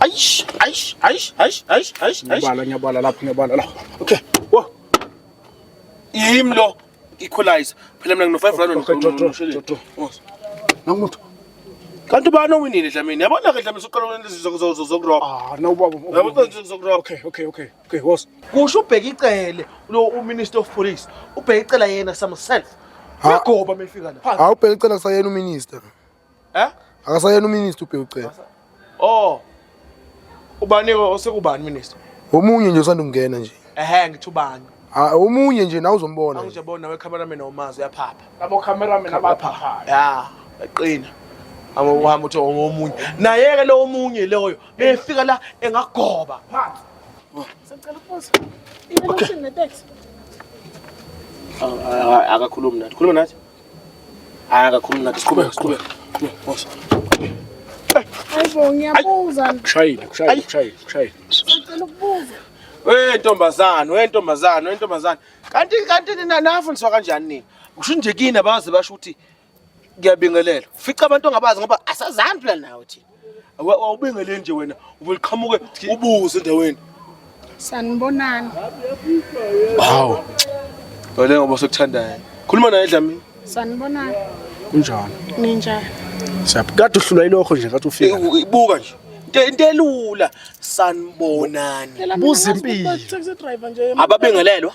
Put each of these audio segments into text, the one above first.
Aish, aish, aish, aish, aish, aish. Ngiyabala, ngiyabala lapho, ngiyabala lapho. Okay. Wo. Yimi lo equalizer. Phela mina ngino 5 rand ngishilo. Nangumuntu. Kanti ubani owinile Dlamini? Yabona ke Dlamini uqala ukwenza izinto zokuroba. Ah, no baba. Yabona izinto zokuroba. Okay, okay, okay. Okay, was. Kusho ubheka icele lo uMinister of Police. Ubheka icela yena samself. Uyagoba mefika la. Awubheka icela kusayena uMinister. Eh? Akasayena uminister ubheke ucela. Oh. Ubani osekubani minister? Omunye nje usanda kungena nje. Ehhe ngithi ubani? Ah omunye nje nawe uzombona. Angije bona we cameraman omazi uyaphapha. Labo cameraman abaphapha. Ya, eqina. Amo uhamba uthi omunye. Naye ke lo omunye loyo befika la engagoba. Phansi. Oh. Sicela ukubuza. Ibe lokuthini ne taxi? Ah, ah, ah, akakhulumi nathi. Khuluma nathi. Hayi akakhulumi nathi siqhubeke siqhubeke. Boss. Hayibo ngiyabuza. Kushayile kushayile kushayile kushayile. Ngicela ukubuza. We ntombazane, we ntombazane, we ntombazane. Kanti kanti nina nafundiswa kanjani nina? Kusho nje kini abazi basho ukuthi ngiyabingelela. Ufica abantu ongabazi ngoba asazani phela nawe thina. awubingele nje wena ubuqhamuke ubuze endaweni sanibonani hawu wena ngoba sekuthandayo khuluma naye dlamini sanibonani kunjani ninjani siyaphi kade uhlulwa ilokho nje kade ufika ibuka nje into elula sanibonani buza impilo ababengelelwa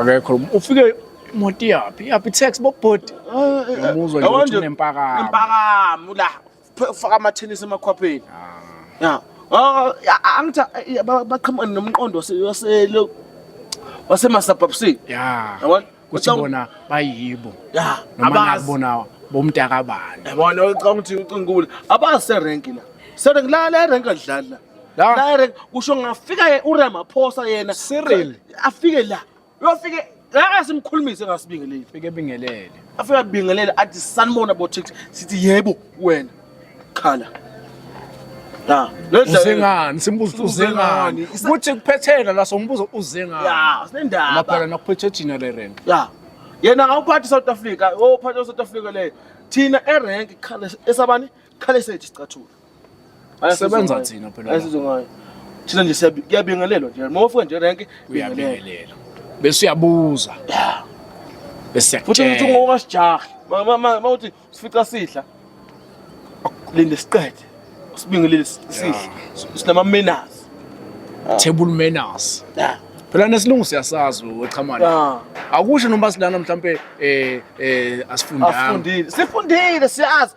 akekho ufike imoto iyaphi iyaphi tax bobhoti umuzwa nje ukuthi unempakamo impakamo la faka amathenisi emakhwapheni ya angithi baqhamuka nomqondo waselo wasemasabhabsini ya yabona kuthi bona bayibo ya abazi bona bomntakabani yabona ucanga ukuthi ucingule abazi serenki la serenki la le renki adlala La. direct kusho ngafika ye- uramaphosa yena Cyril. afike la uyofike la asimkhulumise ngasibingeleli Fike bingelele. afike abingelele athi sanibona bothix sithi yebo wena khala la le dlala- Uzengani simbuzo ukuthi uzengani. Uzengani. Isa- Kuthi kuphethela la sombuzo uzengani. ya sinendaba Maphela nakuphethe Gina le rent. ya yena ngawuphathi south africa ophathi south africa leyo thina erenk esabani khale sethu sicathulo Sebenza thina phela. Ayisizo ngayo. Thina nje siyabingelelwa nje. Uma ufika nje rank uyabingelela. Bese uyabuza. Yeah. Bese futhi uthi ngokasijahi. Mama mama uthi sifica sidla. Linde siqede. Sibingelele sidla. Sinama manners. Ah. Table manners. Yeah. phela nesilungu siyasazi wechamane ah. akusho noma silana mhlampe eh eh asifundanga sifundile siyazi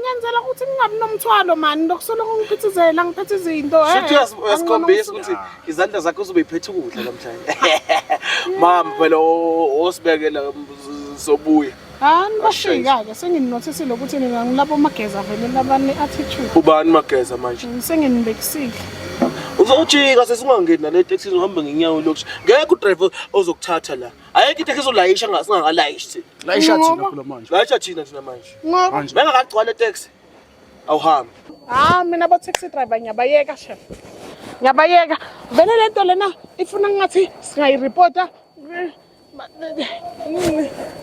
ngenzela ukuthi ngingabi nomthwalo mani lokusoloko ngiphithizela ngiphethe izinto eh, shuthi uyazi- uyasikhombisa ukuthi izandla zakho uzobe iphethe ukudla namhlanje mama phela o- osibekela um, z- zobuya hani bashika-ke sengininothesile ukuthi nina ngilabo mageza vele labane attitude ubani mageza manje senginibekisile uzojika sesingangeni nale teksini uhambe ngenyawo lokusho ngeke udrive ozokuthatha la Ayikho into ezolayisha singakalayishi thina. Layisha thina phela manje. Layisha thina thina manje. Ngoba bengakagcwala taxi. Awuhambi. Ah mina ba taxi driver ngiyabayeka chef. Ngiyabayeka. Vele lento lena ifuna ngathi singayireporta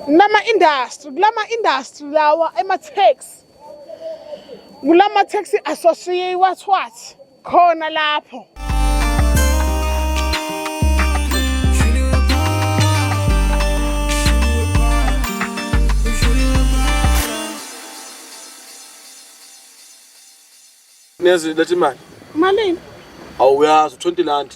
nama industry kulama industry lawa ema taxi kulama taxi associate what what khona lapho nezwi letha imali malini awuyazi u-twenty landi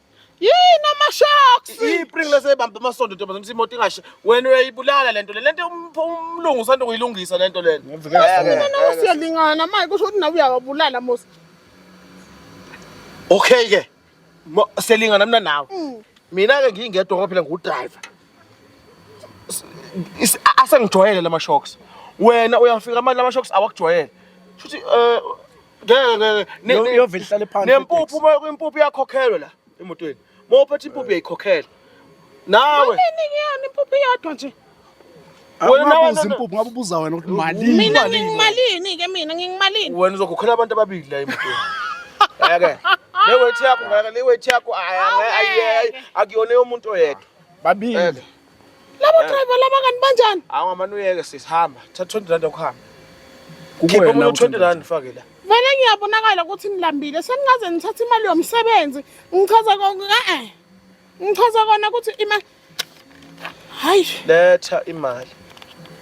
yini amashocks ipring lesebambe amasondo ntombazana ukuthi imoto ingashe wena uyayibulala lento le lento um- umlungu usanda kuyilungisa lento lena mina nawe siyalingana manje kusho ukuthi nawe uyawabulala mos okay ke Mo- selingana mina nawe Mm. mina ke ngingedwa ngoba phela ngudriver S- is- a- asengijwayele lama shocks wena uyafika manje lama shocks awakujwayele shuthi eh ngeke ngeke Ne- Yo- ne- yovele ihlale phansi nempuphu iteksi. uma impuphu iyakhokhelwa la emotweni uma uphethe impuphu uyayikhokhela nawe Nini ngiyona impuphu iyodwa nje. Wena wena nawe- ubuza impuphu ngabe ubuza wena ukuthi malini Mina Imalini? ngingimalini ke mina ngingimalini. wena uzokhokhela abantu ababili la emotweni ake lewethi yakho ngeke lewethi yakho ayi, ayi, ayi, ayi, akuyona yomuntu oyedwa babili Eke. Labo Eh. driver laba kanti banjani? Hawu ngamane uyeke sisi hamba. Thatha 20 rand yokuhamba. Khipha Kukuwena omunye 20 uthanda. rand fake la. Vele ngiyabonakala ukuthi nilambile seningaze nithathe imali yomsebenzi. Ngichaza konke ka eh. Ngichaza kona ukuthi ima Hayi. Letha imali.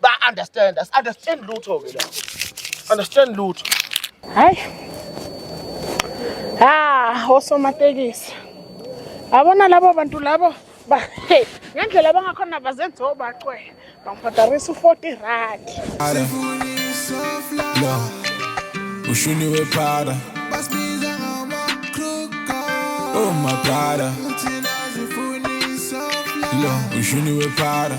ba understand us understand lutho ke la understand lutho hayi ha osomatekisi abona labo bantu labo ba hey ngendlela abangakhona bazenza obacwela bangibhadarisa u-40 rand ushuni wephara oh my brother lo ushuni wephara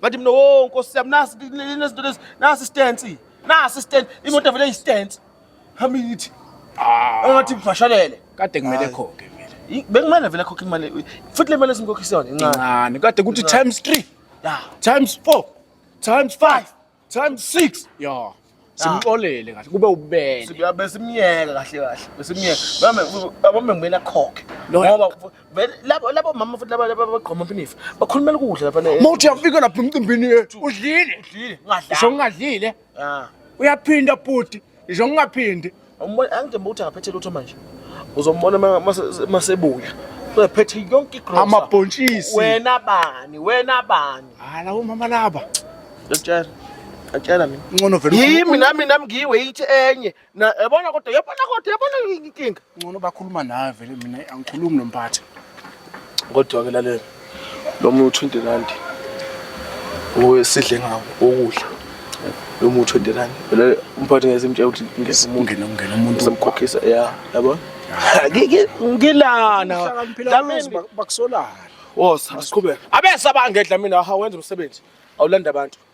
ngathi mina wo oh, nkosi yami nasi inezinto lezi nasi istansi nasi istansi imoto vele istansi hami ngithi ah. angathi mfashalele kade kumele khokhe vele bekumele vele khokhe imali futhi le mali esimkhokhisa yona incane kade kuthi times 3 yeah times 4 times 5 times 6 yeah simxolele kahle kube ububele Sibuya besimyeka kahle kahle. Besimyeka. Bame abame ngibena khokhe. Lo- Ngoba vele labo labo mama futhi laba laba bagqoma phinifa. Bakhulumela ukudla lapha ne. mawuthi uyafika lapha emcimbini yethu udlile Udlile ngisho ngadlala. ngingadlile Ah. uyaphinda bhuti ngisho ngingaphindi Umbona angithemba ukuthi akaphethe lutho manje. Uzombona masebuya. Uzophethe yonke igrocery. Amabhontshisi. Wena bani? Wena bani? Hala umama laba. Ngiyakutshela. Ngiyakutshela mina. Ngcono vele. Yimi nami nami ngiwe yithi enye. Na yabona kodwa yabona kodwa yabona inkinga. Ngcono bakhuluma nawe vele mina angikhulumi nomphathi. Kodwa ke lalela. Lo muthi u-20 rand owesidle ngawo ukudla lo muthi u-20 rand. Vele umphathi ngeke simtshela ukuthi ngeke umuntu Ungena ungena umuntu samkhokhisa ya yabo. Ngike ngilana. Uhlakaniphile Dlamini. abenzi bak- bakusolana. Woza asiqhubeke. Abesa bangedla mina ha wenza umsebenzi. Awulanda abantu.